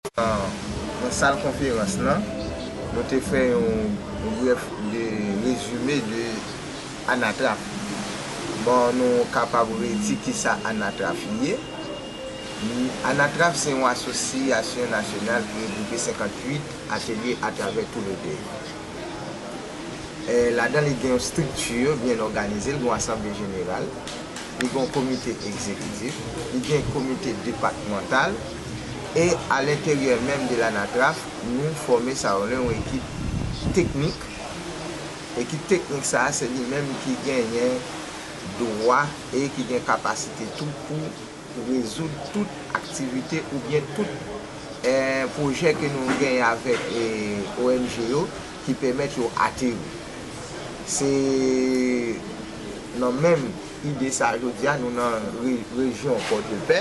Nan sal konferans lan, nou te fè yon brèf rezime de Anatraf. Bon, nou kapab redi kisa Anatraf ye. Anatraf se yon asosyasyon nasyonal ki regwoupe 58 atelye atravè tou le peyi. Ladan li gen yon estrikti byen òganize, li gen yon asanble jeneral, li gen yon komite egzekitif, li gen komite depatmantal, e a lenteryè menm de l'ANATRAPH nou fòme sa rele yon ekip teknik, ekip teknik sa se li menm ki genyen dwa e ki gen kapasite tou pou rezoud tout aktivite ou byen tout pwojè ke nou genyen avèk ONG yo ki pèmèt yo ateri. Se nan menm ide sa jodi a nou nan rejyon Pòdepè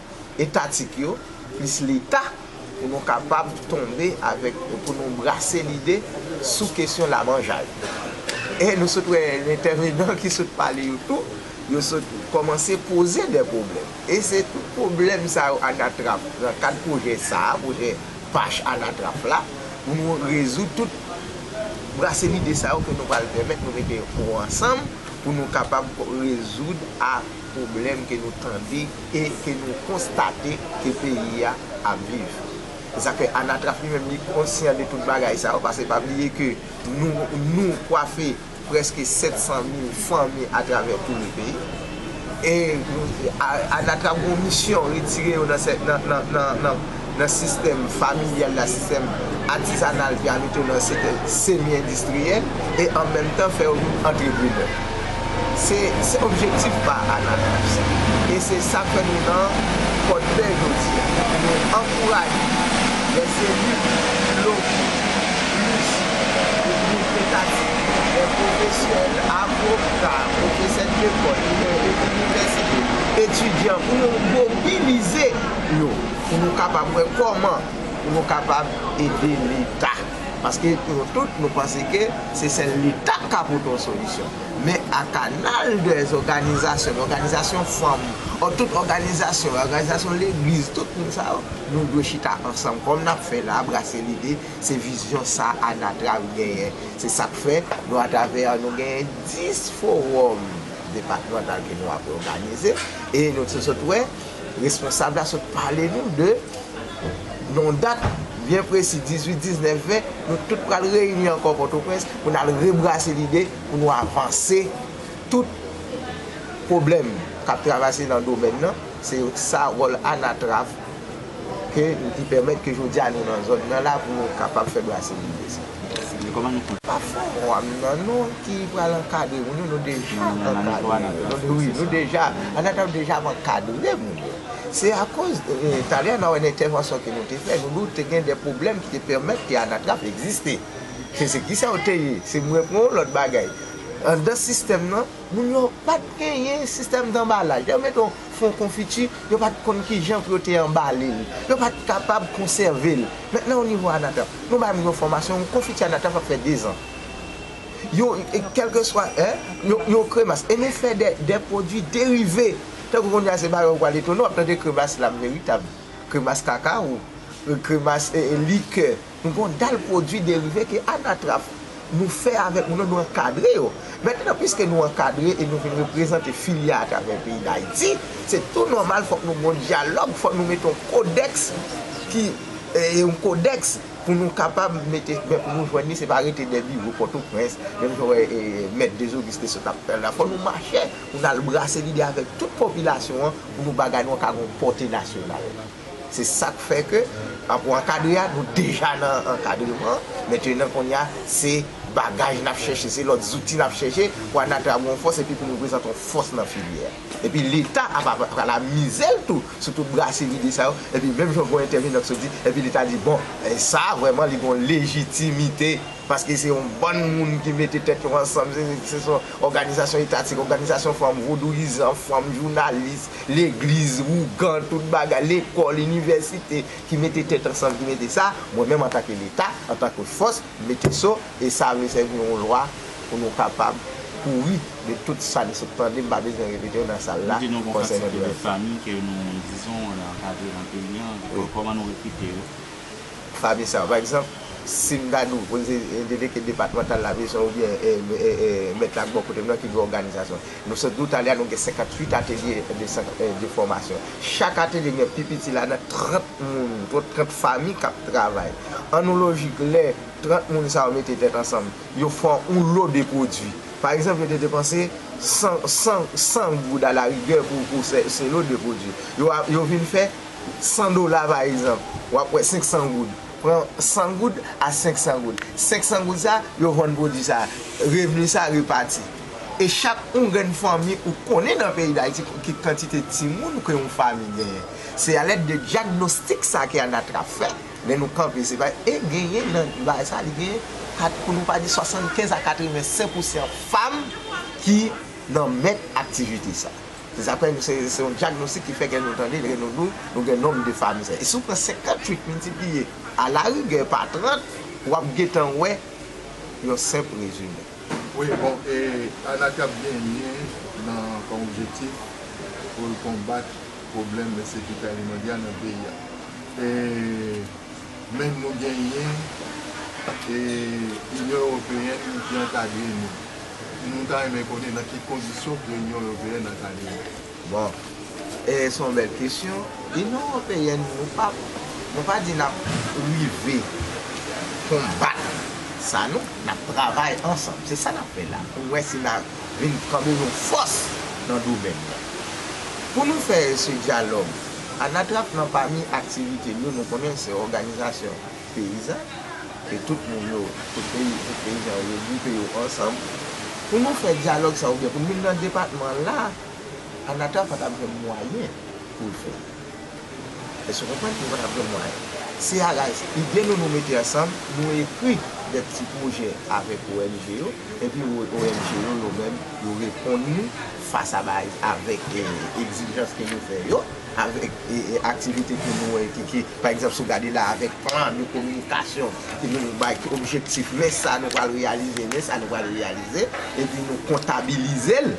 etatik yo, plis Leta, pou nou kapab tonbe avèk, pou nou brase lide sou kesyon lamanjay. E nou sot wè entèvenan ki sot pale yo tou, yo sot kòmanse poze de pwoblèm. E se tout pwoblèm sa yo anatrap nan kad pwojè sa a, pwojè pach anatrap la, pou nou rezoud tout brase lide sa yo ke nou pral pèmèt nou mete yo ansanm pou nou kapab rezoud a. pwoblèm ke nou tande e ke nou konstate ke peyi a ap viv. Se sa k fè Anatraf li menm li konsyan de tout bagay sa yo, paske pa bliye ke nou nou kwafe prèske 700 mil fanmi atravè tou le peyi. E Anatraf gen yon misyon, retire yo nan nan nan. nan sistèm familyal la, sistèm atizanal pi a mete yo nan sistèm semi endistriyèl e an menm tan fè yo vin antreprenè. Se se objektif pa Anafriks e se sa fè nou nan Pòdpè jodi a. Nou ankouraje lè se liv, logo, plis pou liv edatik, lè pwofesyonèl, avoka, pwofesè lekòl, inivèsite, etidyan pou yo mobilize. yo pou nou kapab wè kòman pou nou kapab ede leta paske pou nou tout nou panse ke se sèl leta k ka pote yon solisyon men a kanal dè zòganizasyon dè òganizasyon fanm ò tout òganizasyon yo òganizasyon legliz tout moun sa yo nou dwe chita ansanm kòm n ap fè la brase lide se vizyon sa a anatrav genyen se sa k fè nou atravè nou genyen 10 fowòm depatmantal ke nou ap òganize e nou te sot wè. Responsab la sot pale nou de yon dat byen presi 18, 19, 20 nou tout pral reyini ankò Pòtoprens pou n al rebrase lide pou nou avanse tout pwoblèm k ap travase nan domèn nan se sa wòl anatrav Ke li pèmèt ke jodi a nou nan zòn nan la pou nou kapab fè brase nou de sa. Mèsi men kòman nou fè. Pa fowòm nan nou ki pral ankadre moun yo nou deja ankadre yo wi nou deja anatay deja ap ankadre moun yo se akoz talè nan wè nan entèvansyon ke nou te fè nou doute gen de pwoblèm ki te pèmèt ke anatrap egziste ke se kisa ou te ye se mwen pran yon lòt bagay andan sistèm nan moun yo pat genyen sistèm danbalaj lè yo mete yon. fon konfiti, yo pa t konn ki jan pou yo te anbale l. Yo pa t kapab konsève l. Mentnan o nivo Anatap, nou bay moun yo fòmasyon, yon konfiti Anatap ap fè dezan. Yon, kèlkeswa, hein, yon, yon kremas. E nou fè dè, dè pwodui derive. Tankou kounye a se ba yo pral etone w ap tande kremas lam veritab, kremas kakawo, kremas likè. Gon dal pwodui derive ke anatraf nou fè avèk moun yo, nou ankadre yo. Mentnan piske nou ankadre e nou vin reprezante filya atravè peyi Dayiti, se tou nòmal fòk nou gon dyalòg, fòk nou mete yon kodèks ki, yon kodèks pou nou kapab mete, men pou nou jwenn li se pa rete dè biwo Pòtoprens, menm jan wè Mèt Dezogis te sot ap fè la. Fòk nou mache pou nou al brase lide avèk tout popilasyon an pou nou bagay nou an ka gon pòte nasyonal. Se sa k fè ke a pou ankadre a, nou deja nan ankadreman. Mentenan kounye a, se bagaj n ap chèche, se lòt zouti n ap chèche pou ANATRA gen yon fòs epi pou l reprezante yon fòs nan filyè a. Epi Leta ap pral amize l tou sou tout brase lide sa yo. Epi menm jan gen yon entèvenan ki sot di, epi Leta di bon, sa a vrèman li gen yon lejitimite Paske se yon bann moun ki mete tèt yo ansanm, se son òganizasyon etatik, òganizasyon fanm, vodouyizan, fanm, jounalis, legliz, ougan, tout bagay, lekòl, inivèsite, ki mete tèt ansanm, ki mete sa, mwen menm antanke Leta, antanke fòs, m mete so, e sa vle sèvi yon lwa pou nou kapab kouri de tout sa n sot tande, m pa bezwen repete yo nan sal la, konsènan Duvalier. Kòman nou rekrite yo? Pami sa, pa egzanp, si m ta di w delege depatmantal lavizyon oubyen mèt la k bò kote m nan ki gen òganizasyon. Nou sot di w talè a nou gen 58 atelye de fòmasyon. Chak atelye gen pi piti ladan l 30 moun, 30 fami k ap travay. An nou lojik lè 30 moun sa yo mete tèt ansanm, yo fè yon lo de pwodui. Pa egzanp, yo te depanse 100 goud alarigè pou se lo de pwodui. Yo vin fè. 100 dola pa egzanp, w ap wè 500 goud. Pran 100 goud a 500 goud. 500 goud sa a, yo vann pwodui sa a. Revni sa a repati. E chak yon grenn fanmi ou konnen nan peyi Dayiti ki kantite timoun ke yon fanmi genyen. Se a lèd de dyagnostik sa a ke ANATRA fè lè nou kanpe se pa e genyen nan bagay sa a li genyen kat pou nou pa di 75 a 85 pousan fanm ki nan mèt aktivite sa a. Se sa k fè se yon dyagnostik ki fè kè nou tande, kè nou dou, nou gen nonm de fami sa. E si w pran 58 miltipliye a la rigè pa 30, w ap gen tan wè yon senp rezime. Wi, bon, e Anaki ap genyen nan kòm objektif pou l konbat pwoblèm ensekirite alimandya nan peyi a. E. Menm nou genyen e Inyon Ewopeyèn ki ankadre nou. Nou ta renmen konnen nan ki kondisyon ke Inyon Ewopeyèn ankadre nou. Bon, e se yon bèl kesyon. Inyon Ewopeyèn, nou pa, nou pa di nap rive konbat sa non, nap travay ansanm. Se sa nap fè la pou wè si na. vin kanbe yon fòs nan domèn nan. Pou nou fè se dyalòg anatrap nan pami aktivite l yo nou konnen se òganizasyon peyizan ke tout moun yo, tout peyi, tout peyizan yo regwoupe yo ansanm pou nou fè dyalòg sa oubyen pou n vin nan depatman la anatrap pa t ap jwenn mwayen pou l fè l. Èske w konprann? Nou pa t ap jwenn mwayen. Se a raz ide nou nou mete ansanm, nou ekri de ti pwojè avèk ong yo, epi ong yo yo menm yo reponn nou fas a bay avèk egzijans ke nou fè yo, avèk aktivite ke nou wè ke ki, pa egzanp, si w gade la avèk plan de kominikasyon ke nou bay ki objektif, men sa nou pral reyalize, men sa nou pral reyalize, epi nou kontabilize l,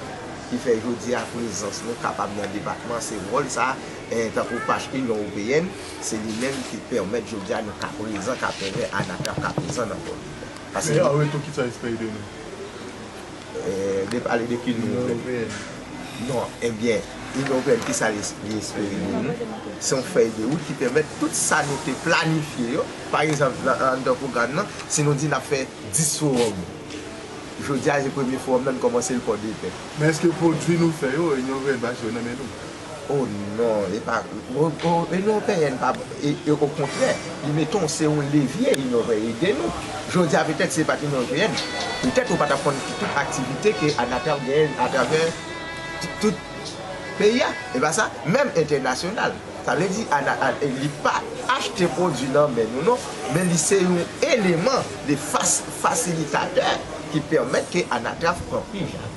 ki fè jodi a prezans nou kapab nan depatman se wòl sa. tankou pach Inyon Ewopeyèn, se li menm ki pèmèt jodi a nou ka prezan, ka fè wè Anatrap ka prezan nan kò nou. Paske Men an retou kisa li spere de nou? Li pale de ki Inyon Ewopeyèn? Non, ebyen Inyon Ewopeyèn kisa li espere de nou? Se yon fèy de wout ki pèmèt tout sa nou te planifye yo, pa egzanp anndan pwogram nan, si nou di n ap fè 10 fowòm, jodi a se premye fowòm nan nou kòmanse l Pòdepè. Men èske pwodui nou fè yo, Inyon Ewopeyèn pa jwe nan men nou? Oh non epa Union Européenne pa bon e okontrè li mete w se yon levye Union Européenne ede nou jodi a petèt si se pat Union Européenne petèt ou pa tap konn tout aktivite ke Anatel genyen atravè tout peyi a epa sa menm entènasyonal sa vle di Anatel li pa achte pwodwi nan men nou non men li se yon eleman de fasilitatè ki pèmèt ke Anatel pran pi jan.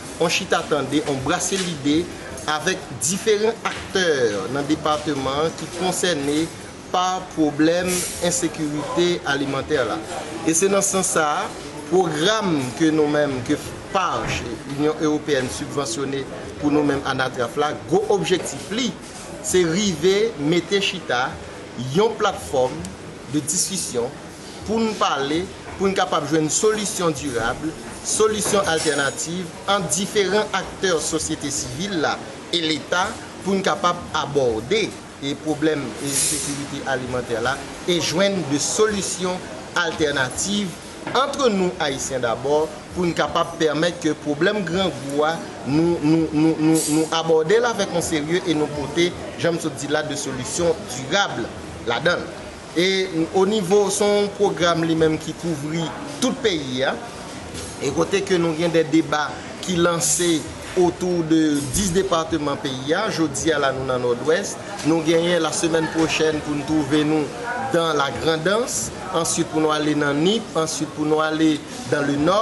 on chita tande, on brase lide avèk diferan aktè nan depateman an ki konsène pa pwoblèm ensekirite alimantè la. E se nan sans sa a, pwogram ke nou menm, ke FPARH, Inyon Ewopeyèn sibvansyone pou nou menm Anatraf la, gwo objektif li, se rive mete chita yon platfòm de diskisyon, pou n pale, pou n kapab jwenn solisyon dirab, solisyon altènativ ant diferan aktè sosyete sivil la e Leta pou n kapab abòde pwoblèm ensekirite alimantè la e jwenn de solisyon altènativ antre nou Ayisyen dabò pou n kapab pèmèt ke pwoblèm grangou a nou abòde l avèk yon serye e nou pote, jan m sot di la, de solisyon dirab ladan l. E o nivo, se yon pwogram li menm ki kouvri tout peyi a, e kote ke nou gen de deba ki lanse otou de 10 departeman peyi a, jodi a la nou nan Nòdwès, nou genyen la semèn pwochèn pou nou twouve nou dan la Grandans, answit pou nou ale nan Nip, answit pou nou ale dan le Nò.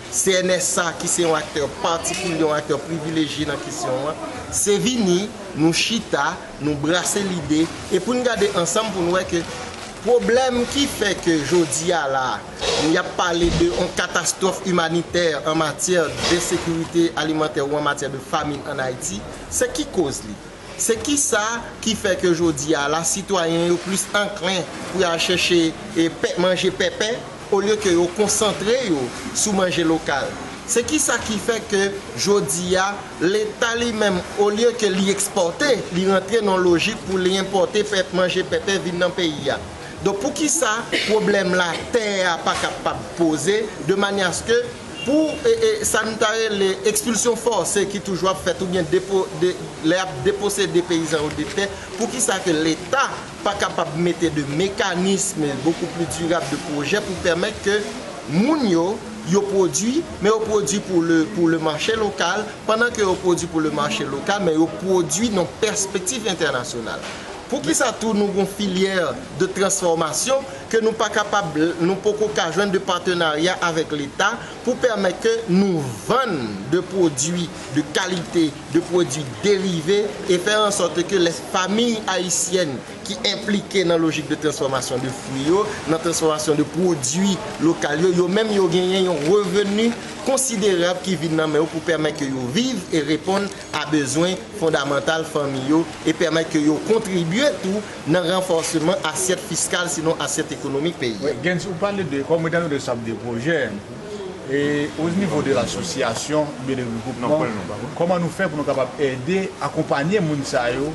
CNSA ki se yon aktè patikilye, yon aktè privilejye nan kesyon an, se vini, nou chita, nou brase lide, e pou n gade ansanm pou n wè ke pwoblèm ki fè ke jodi a la a, y ap pale de yon katastwòf imanitè an matyè de sekirite alimantè ou an matyè de famin an Ayiti, se ki koz li? Se ki sa ki fè ke jodi a la sitwayen yo plis anklen pou y al chèche manje pèpè olye ke yo konsantre yo sou manje lokal? Se ki sa ki fè ke jodi a leta li menm olye ke li ekspòte li rantre nan lojik pou li enpòte manje pèpè vin nan peyi a? Donk pou ki sa pwoblèm la tè a pa kapab poze de manyè aske Pou sa nou ta rele ekspilsyon fòse ki toujou ap fèt oubyen lè y ap deposede peyizan yo de tè, poukisa ke Leta pa kapab mete de mekanisme bokou pli dirab, de pwojè pou pèmèt ke moun yo, yo pwodui, men yo pwodui pou le mache lokal, pandan ke yo pwodui pou le mache lokal, men yo pwodui nan pèspektif entènasyonal. Poukisa tou nou gon filyè de transfòmasyon ke nou pa kapab nou poko ka jwenn de patenarya avèk leta pou pèmèt ke nou vann de pwodwi de kalite, de pwodwi derive e fè an sòt ke lè famiy ayisyèn ki enplike nan lojik de transfòmasyon de fwi yo, nan transfòmasyon de pwodwi lokal yo, yo menm yo genyen yon reveni konsiderab ki vin nan men yo pou pèmèt ke yo viv e reponn a bezwen fondamantal fanmi yo e pèmèt ke yo kontribye tou nan ranfòseman asyèt fiskal sinon asyèt ekonomik peyi a. Gens, ou pale de kòm etan donne sa de pwojè, e o nivo de l'association oubyen de regroupement, kòman nou fè pou nou kapab ede, akonpanye moun sa yo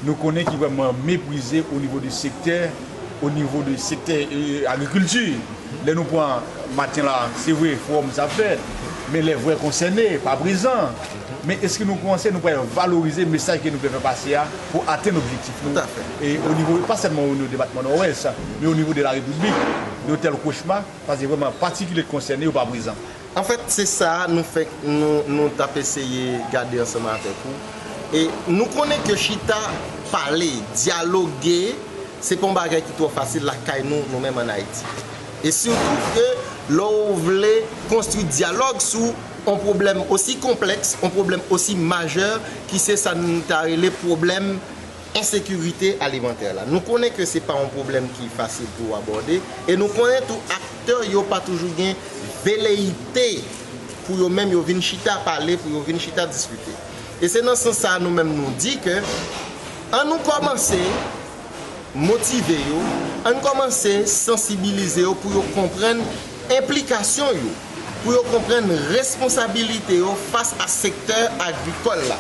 Nou konnen ki vrèman meprize o nivo de sektè, o nivo de sektè agrikilti. Lè nou pran maten la, se vre fowòm sa ap fèt, men lè vrè konsène pa prezan. Men eske nou panse nou pral valorize mesaj ke nou vle fè pase a pou atenn objektif nou e o nivo, pa sèlman o nivo depatman Nòdwès, men o nivo de la Repiblik? Yon tèl kochma, pase vrèman patikilye k konsène yo pa prezan. Anfèt, se sa nou fèk nou t ap eseye gade ansanm avèk ou. E nou konnen ke chita pale, dyaloge, se pa yon bagay ki twò fasil lakay nou, nou menm ann Ayiti. E sitou ke lè ou vle konstwi dyalòg sou yon pwoblèm osi konplèks, yon pwoblèm osi majè ki se sa n ta rele pwoblèm, ensekirite alimantè la. Nou konnen ke se pa yon pwoblèm ki fasil pou ou abòde, e nou konnen tou aktè yo pa toujou gen veleyite pou yo menm yo vin chita pale, pou yo vin chita diskite. E se nan sans sa a nou menm nou di ke an nou kòmanse motive yo, an nou kòmanse sansibilize yo pou yo konprann enplikasyon yo. pou yo konprann responsabilite yo fas a sektè agrikòl la.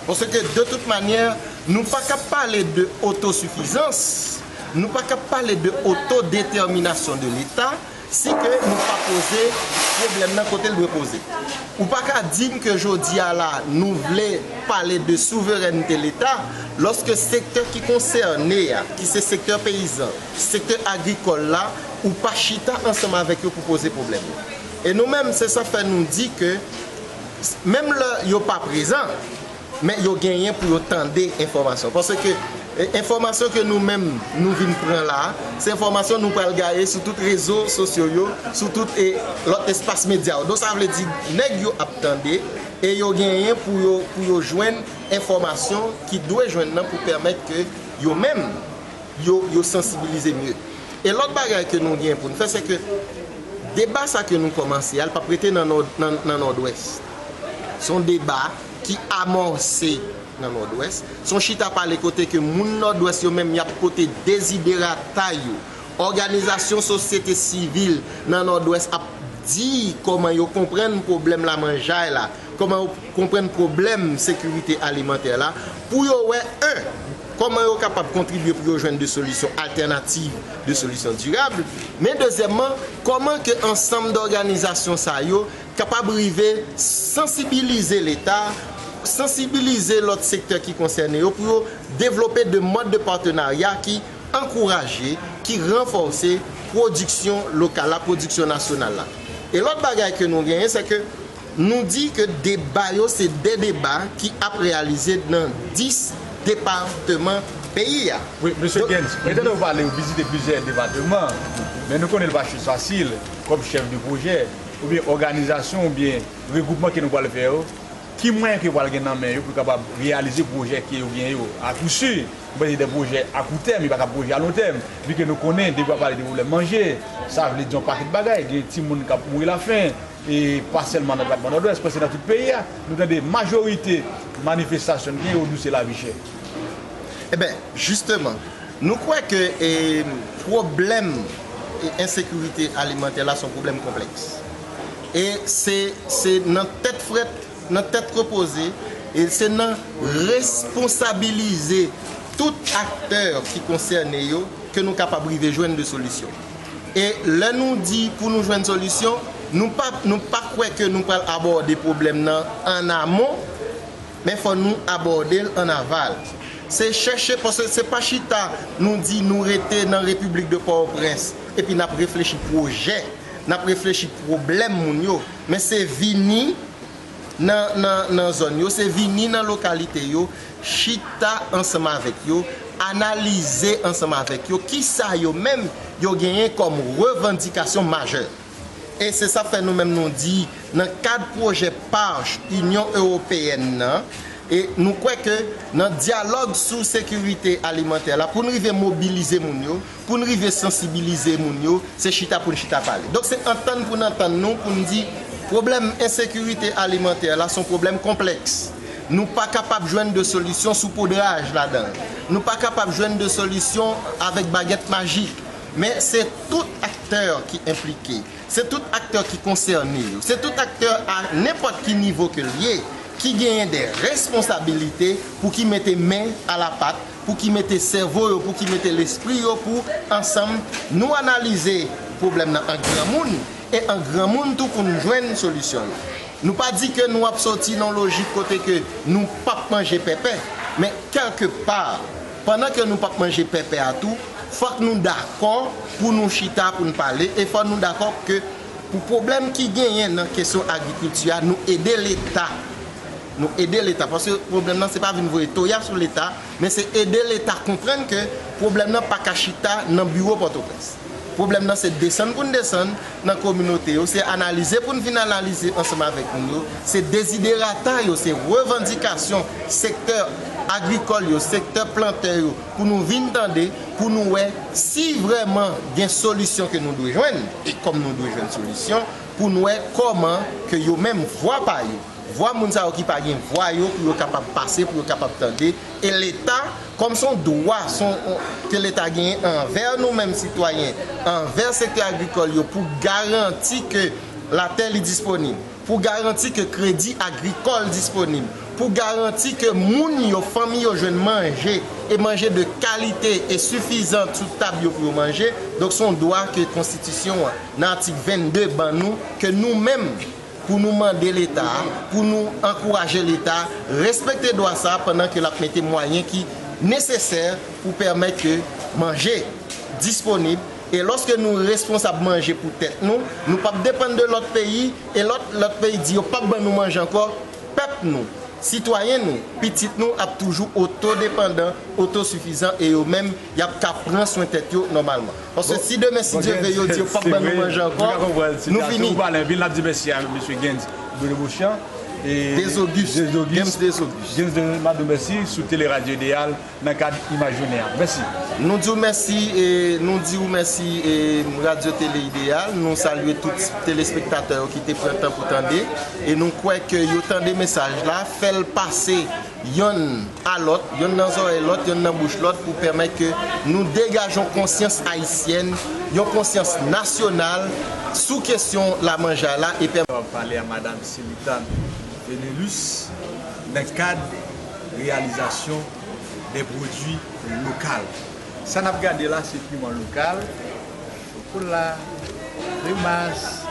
Paske de tout manyè, nou pa kab pale de otosifizans, nou pa kab pale de otodetèminasyon de Leta, si ke nou pa poze pwoblèm nan kote l dwe poze. Ou pa ka di m ke jodi a la, nou vle pale de souverènte Leta, lòske sektè ki konsène a, ki se sektè peyizan, sektè agrikòl la, Ou pa chita ansanm avèk yo pou poze pwoblèm yo. E nou menm, se sa fè nou di ke menm lè yo pa prezan, men yo genyen pou yo tande enfòmasyon. Paske enfòmasyon ke nou menm nou vin pran la, se enfòmasyon nou pral gaye sou tout rezo sosyo yo, sou tout lòt espas medya yo. Donk sa vle di nèg yo ap tande e yo genyen pou yo jwenn enfòmasyon ki dwe jwenn nan pou pèmèt ke yo menm, yo, yo sansibilize mye. E lòt bagay ke nou gen pou nou fè, se ke deba sa ke nou kòmanse a, li pap rete nan nòd, nan nòdwès. Se yon deba ki amòse nan nòdwès. Se yon chita pale kote ke moun nòdwès yo menm, yap pote deziderata yo. Òganizasyon sosyete sivil nan nòdwès ap di kòman yo konprann pwoblèm lamanjay la. Kòman yo konprann pwoblèm sekirite alimantè la pou yo wè 1. Kòman yo kapab kontribye pou yo jwenn de solisyon altènativ, de solisyon dirab, men dezyèmman, kòman ke ansanm dòganizasyon sa yo kapab rive sansibilize Leta, sansibilize lòt sektè ki konsène yo pou yo devlope de mòd de patenarya ki ankouraje, ki ranfòse pwodiksyon lokal la, pwodiksyon nasyonal la. E lòt bagay ke nou genyen, sè ke. Nou di ke deba yo se de deba ki ap reyalize nan 10 departeman peyi a. Wi, Mesye Genz, mwen tande ou pale ou vizite plizyè depateman, men nou konnen li pa chòz fasil kòm chèf de pwojè oubyen òganizasyon oubyen regwoupman ke nou pwal fè yo, ki mwayen ke yo pwal gen nan men yo pou yo kapab reyalize pwojè ke yo gen yo? A kou si, mwen panse se de pwojè a kou tèm, yo pa ka pwojè a lon tèm, vi ke nou konnen depi wap pale de pwoblèm manje, sa vle di yon pakèt bagay, gen timoun kap mouri lafen. E pa sèlman nan depatman Nòdwès, prèske nan tout peyi a, nou tande majorite manifestasyon n gen yo di w se lavi chè. Eben, jisteman, nou kwè ke pwoblèm ensekirite alimantè la se yon pwoblèm konplèks. E se se nan tèt frèt, nan tèt repoze, e se nan responsabilize tout aktè ki konsène yo ke nou kapab rive jwenn de solisyon. E lè nou di pou nou jwenn solisyon, nou pa nou pa kwè ke nou pral abòde pwoblèm nan an amon, men fò nou abòde l an aval. Se chèche, paske se pa chita nou di nou rete nan Repiblik de Pòtoprens epi n ap reflechi pwojè, n ap reflechi pwoblèm moun yo, men se vini, nan zòn yo, se vini nan lokalite yo, chita ansanm avèk yo, analize ansanm avèk yo ki sa yo menm yo genyen kòm revandikasyon majè. E se sa k fè nou menm nou di nan kad pwojè PARCH Inyon Ewopeyèn nan, nou kwè ke nan dyalòg sou sekirite alimantè la pou n rive mobilize moun yo, Pou n rive sansibilize moun yo, se chita pou n chita pale. Donk se antann pou n antann nou pou n di pwoblèm ensekirite alimantè la se yon pwoblèm konplèks. Nou pa kapab jwenn de solisyon sou podraj ladan l. Nou pa kapab jwenn de solisyon avèk bagèt majik. Men se tout aktè ki enplike, se tout aktè ki konsène yo, se tout aktè a nenpòt ki nivo ke l ye ki genyen de responsabilite pou ki mete men a la pat pou ki mete sèvo yo, pou ki mete lespri yo pou ansanm nou analize pwoblèm nan an granmoun e an granmoun tou pou nou jwenn solisyon yo. Nou pa di ke nou ap soti nan lojik kote ke nou p ap manje pèpè, men kèlke pa, pandan ke nou p ap manje pèpè a tou, fòk nou dakò pou nou chita pou nou pale e fòk nou dakò ke pou pwoblèm ki genyen nan kesyon agrikilti a nou ede leta. Nou ede leta paske pwoblèm nan se pa vin voye toya sou leta men se ede leta konprann ke pwoblèm nan pa ka chita nan biwo Pòtoprens. Pwoblèm nan se desann pou n desann nan kominote yo, se analize pou n vin analize ansanm avèk moun yo, se deziderata yo, se revandikasyon sektè agrikòl yo, sektè plantè yo pou nou vin tande, pou nou wè si vrèman gen solisyon ke nou dwe jwenn e kòm nou dwe jwenn solisyon pou n wè kòman ke yo menm vwa pa yo. vwa moun sa yo ki pa gen vwa yo pou yo kapab pase, pou yo kapab tande, e leta kòm se yon dwa ke leta genyen anvè nou menm sitwayen, anvè sektè agrikòl yo pou garanti ke latè li disponib, pou garanti ke kredi agrikòl disponib, pou garanti ke moun yo, fanmi yo jwenn manje, e manje de kalite e sifizan sou tab yo pou yo manje, donk se yon dwa ke konstitisyon an nan atik 22 ban nou ke nou menm, Pou nou mande leta, pou nou ankouraje leta respekte dwa sa pandan ke lap mete mwayen ki nesesè pou pèmèt ke manje disponib e lòske nou responsab manje pou tèt nou, nou pap depann de lòt peyi e lò lòt peyi di yo pap ban nou manje ankò, pèp nou, sitwayen nou, pitit nou ap toujou oto depandan, oto sifizan e yo menm yap ka pran swen tèt yo nòmalman. Paske si demen si Dye ve yo di yo pap ban nou manje ankò nou fini. Ou pale anpil nap di mèsi a mesye Gens Bruno Beauchamp e Gens Auguste Gens de nap diw mèsi sou tele radio Ideal nan kad imaj jounen an mèsi. Nou diw mèsi e nou diw mèsi e radio tele Ideal nou salye tout telespektatè yo ki te pran tan pou tande e nou kwè ke yo tande mesaj la fèl pase yonn a lòt, yonn nan zòrèy lòt, yonn nan bouch lòt pou pèmèt ke nou degaje yon konsyans ayisyèn, yon konsyans nasyonal sou kesyon lamanjay la e pèmèt. Mwen pale a Madam Selitan Enelus nan kad reyalizasyon de pwodui lokal. Sa n ap gade la se piman lokal, chokola, kremas.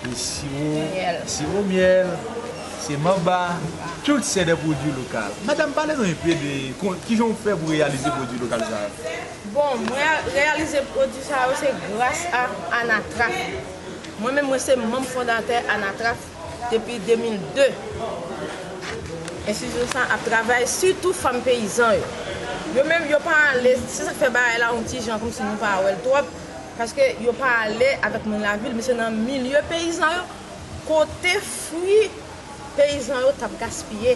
Siwo myèl, se manba, tout se de pwodwi lokal. Madam, pale nou enpe de kijan ou fè pou reyalize pwodwi lokal sa yo? Bon, mwen reyalize pwodwi sa yo se gras a Anatraf. Mwen menm mwen se manm fondatè Anatraf depi 2002. Enstitisyon sa ap travay sitou fanm peyizan yo. Yo menm yo pa ale, se sa k fè bagay la yon ti jan kòmsi nou pa wè l twòp. Paske yo pa ale avèk moun lavil men se nan milye peyizan yo kote fwi peyizan yo t ap gaspiye.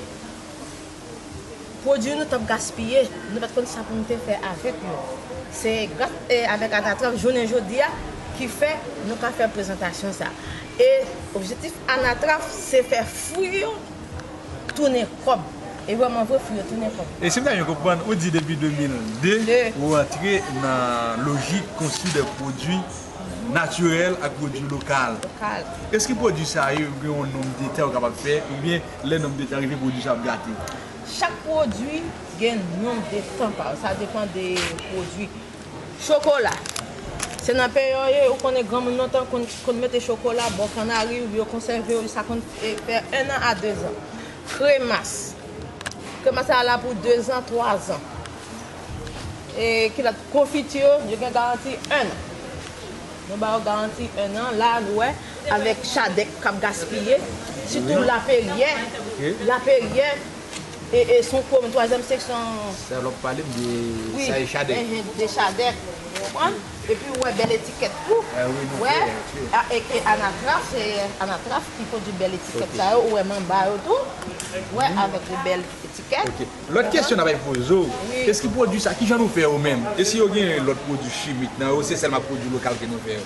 Pwodui nou t ap gaspiye, nou pa t konn sa pou nou te fè avèk yo. Se gras avèk Anatranv jounen jodi a ki fè nou ka fè prezantasyon sa a. E objektif Anatranv se fè fwi yo. tounen kòb. E wè mwen vre fou yo tounen kòb. E sim ta byen konprann ou di depi 2002 ou antre nan lojik konstwi de pwodwi natirèl ak pwodwi lokal. Eske pwodwi sa yo gen yon nonb de tè ou kapab fè ou byen lè nonb de tè rive pwodwi sa ap gate? Chak pwodwi gen nonb de tan pa yo. Sa depan de pwodwi. Chokola, Se nan peyi yo ye, ou konnen granmoun lontan konn mete chokola bò kannari oubyen yo konsève yo jiska konn fè 1 an a 2 zan. Kremas, Kremas sa la pou 2 zan, 3 zan. E ki lòt, konfiti yo, yo gen garanti 1 an. Nou ba yo garanti 1 an, la a nou wè avèk chadèk k ap gaspiye, sitou laferyè, laferyè. E son pwom twazyèm seksyon an. Sèl wap pale m de sa e chadèk. Wi enhen de chadèk ou konprann. Epi ou wè bèl etikèt tou. Wi nou fè wi. Eke anatraf se anatraf ki pwodui bèl etikèt sa yo ou wè m anba yo tou. Ou wè avèk de bèl etikèt. Ok lòt kesyon nap ap poze w. Wi. Eske pwodui sa kijan nou fè yo menm? E si yo gen lòt pwodui chimik nan yo ou se sèlman pwodui lokal ke nou fè yo?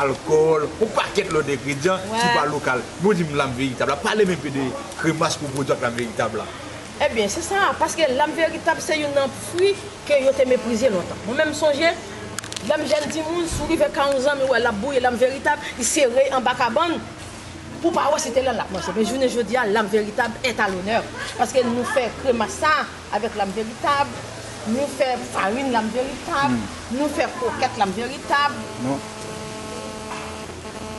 alkòl, yon pakèt lòt engredyan ki pa lokal. Men ou di m lam veritab la, pale m enpe de kremas ke w pwodui ak lam veritab la. Ebyen, se sa a, paske lam veritab se youn nan fwi ke yo te meprize lontan. Mwen menm m sonje, lè m jèn timoun, si w rive kay yon zanmi w wè lap bouyi lam veritab, li sere l anba kabann, pou w pa wè se te lan lap manje. Men jounen jodi a, lam veritab est à l'honneur, paske nou fè kremas sa a. Avèk lam veritab, nou fè farin lam veritab, nou fè krokèt lam veritab.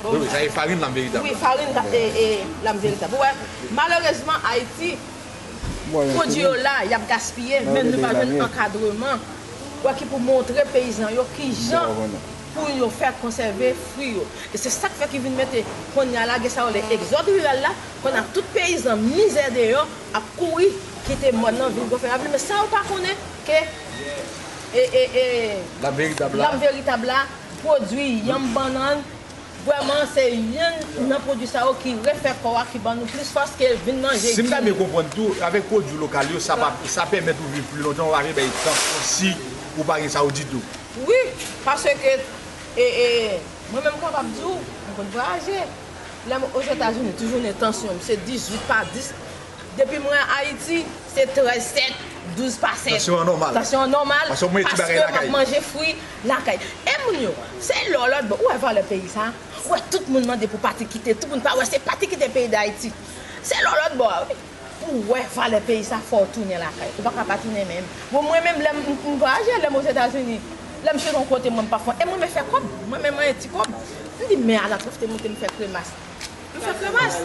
Wi, wi, sa e farin lam veritab. Wi, farin lam veritab. Ou wè, malerezman Ayiti, pwodui yo la, y ap gaspiye, men nou pa jwenn ankadreman, ou wè, ki pou montre peyizan yo ki jan pou yo fè konsève fwi yo. E se sa k fè ki vin mete, kounye a la, gen sa yo rele egzòd riral la, konn a tout peyizan mizè deyò, ap kouri kite mòn nan vin gofè ravil men sa yo pa konnen ke lam veritab la lam veritab la pwodwi yanm bannann vrèman se youn nan pwodwi sa yo ki refè kò a ki ban nou plis fòs ke vin manje di. Si m ta byen konprann tou avèk pwodwi lokal yo sa pa sa pèmèt ou viv pli lontan ou pa vle bay tan si ou pa gen sa yo ditou. Wi paske e e mwen menm m kapab di w mwen konn vwayaje Lèm ozetazini ti jounen tansyonm se 18 pa 10 depi mwen ayiti se 13 7 12 pa 7 tansyon an nòmal tansyon an nòmal paske mwen ap manje fwi lakay e moun yo se lò lòtbò ou wè valè peyi sa ou wè tout moun mande pou pati kite tout moun pa wè se pati kite peyi dayiti se lò lòtbò a wi. Pou w wè valè peyi sa fò w tounen lakay. Ou pa ka pa tounen menm. Bon mwen menm lè m vwayaje, lè m Ozetazini, lè m sot yon kote mwen m pa fon e mwen renmen fè kòb. Mwen menm mwen ti kòb. M di men ala profite monte m fè kremas. M fè kremas.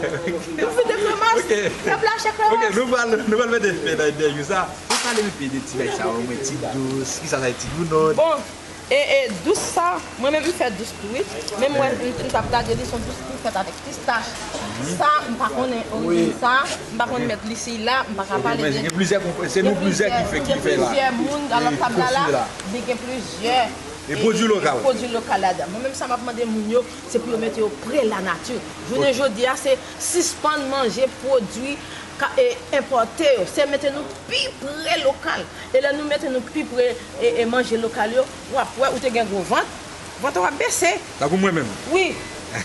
M fete kremas. Pèp la achte kremas. Ok nou pral nou pral mete fen nan entèvyou sa. Pale m enpe de ti nèg sa yo mwen ti dous, kisa sa ye ti dounòt. Bon E e dous sa, mwen menm m fè dous tou wi, menm wè m tap gade li son dous ki fèt avèk pistach, sa m pa konnen orijin sa, m pa konn mèt li si la, m pa ka pale de, gen plizyè moun nan lòt tab la la, li gen plizyè pwodui lokal ladan, mwen menm sa map mande moun yo se pou yo mete yo pre la nati, jounen jodi a se sispann manje pwodui enpòte yo, se mete nou pi pre lokal. E lè nou mete nou pi pre e manje lokal yo, wap wè ou te gen gwo vant, vant ou ap bese. Tankou mwen menm. Wi.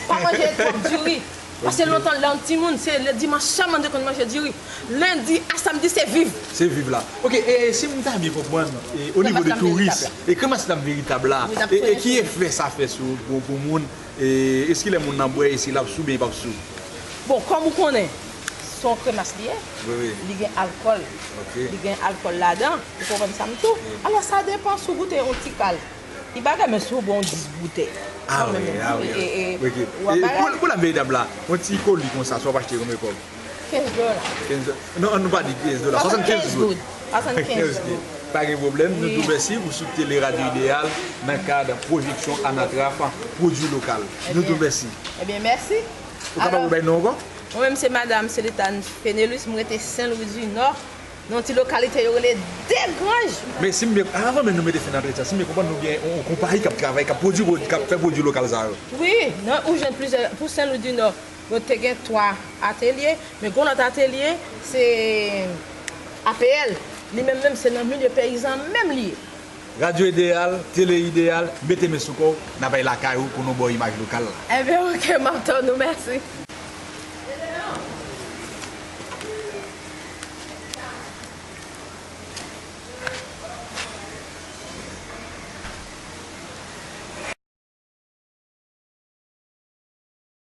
Pa manje twòp diri. Pase lontan lèw t timoun se le dimanch sèlman nou te konn manje diri. Lendi a samdi se viv. Se viv la. Ok e si m ta byen konprann e o nivo de touris e kremas lam veritab la e ki efè sa fè sou gwo gwo moun. Eskile moun nan bwè esi lap sou byen pap sou. Bon kòm ou konnen son kremas li ye li gen alkòl li gen alkòl ladan ou konprann sa m tou alò sa depan sou goute yon ti kal li bagay men sou bon 10 boutèy kanmenm ou wap bagay. Pou la veritab la yon ti koli konsa sa wap achte konbyen kòb. 15 dola. 15 dola. Non, an nou pa di 15 dola. 75 goud. 75 goud. Pa gen pwoblèm. Nou di w mèsi pou sou Tele Radyo Ideyal nan kad pwojeksyon Anatraf pwodui lokal. Nou di w mèsi. Ebyen, mèsi. Ou kapab rebay non w ankò? Mwen menm se Madam Celitane Penelus. M rete Sen Lwi di Nò, nan yon ti lokalite yo rele Degranj. Men si m byen, avan menm nou mete fen nan antre sa, si m byen konprann nou gen yon konpayi k ap travay, k ap pwodui, k ap fè pwodui lokal sa yo? Wi. Ou jwenn plizyè, pou Sen Lwi di Nò. Nou te gen 3 atelye, men gon lòt atelye se APL, li menm menm se nan milye peyizan menm li ye. Radyo Ideyal, Tele Ideyal, mete men sou kò w, n a bay lakay ou pou nou ba w imaj lokal la. Enben ok, m ap tann ou, mèsi.